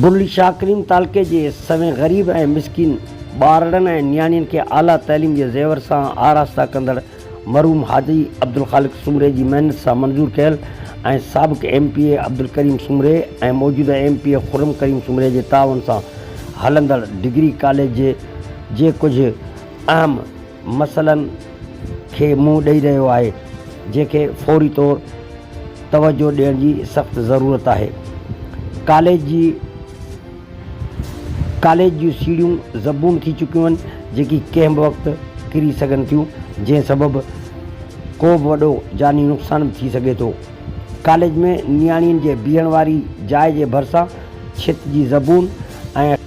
Burleigh Shah Karim تعلقي جي سوين غريب ۽ مسڪين ٻارڙن ۽ نياڻين کي اعليٰ تعليم جي زيور سان آراسته ڪندڙ مرحوم حاجي عبدالخالق سومري جي محنت سان منظور ڪيل ۽ سابق ايم پي اي عبدالڪريم سومري ۽ موجوده M P A Khurram Karim سومري جي تعاون سان هلندڙ ڊگري ڪاليج جي ڪجهه اهم مسئلن کي منهن ڏئي رهيو آهي، جنهن کي فوري طور توجهه ڏيڻ جي سخت ضرورت آهي. ڪاليج جي ڪاليج جون سيڙهيون زبون ٿي چڪيون آهن، جيڪي ڪنهن به وقت ڪري سگهن ٿيون، جنهن سبب ڪو به وڏو جاني نقصان به ٿي سگهي ٿو. ڪاليج ۾ نياڻين جي بيهڻ واري جاء جي ڀرسان ڇت جي زبون ۽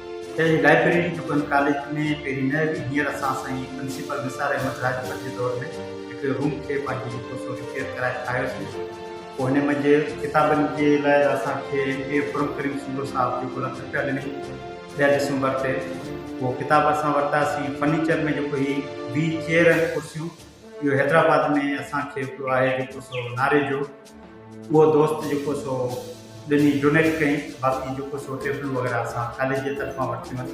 جي لائبريري ٽپن ڪاليج ۾ پهرين نه هئي، هينئر اسان سائين پرنسيپل نثار احمد راڄپر جي دور ۾ هڪڙي روم کي پنهنجي هٿون سو ريپيئر ڪرائي ٺاهيوسين، پوء هن منجهه ڪتابن جي لاء اسان کي M P A Khurram Karim Sindhu صاحب جيڪو لک رپيا ڏني ڏهه ڊسمبر تي اهو ڪتاب اسان ورتاسين، فرنيچر ۾ جيڪو هي ويهه چيئر ۽ ڪرسيون اهو حيدرآباد ۾ اسان کي هڪڙو آهي جيڪو سو ناري جو. اهو دوست جيڪو سو ڏني ڊونيٽ ڪئين باقي جيڪو سو ٽيبلون وغيره اسان ڪاليج جي طرفان ورتيون آهن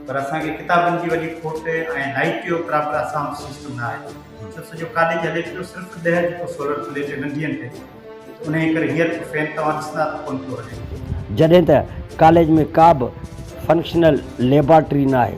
پر اسان کي ڪتابن جي وڏي کوٽ ۽ لائيٽ جو پراپر اسان وٽ سسٽم نه آهي ڇو سڄو ڪاليج هلي پيو صرف ڏهه جيڪو سولر پليٽ ننڍين تي انهي ڪري هينئر ته فين توهان ڏسندا ته ڪونه پيو هلي جڏهن ته ڪاليج ۾ ڪا به فنڪشنل ليبارٽري نه آهي.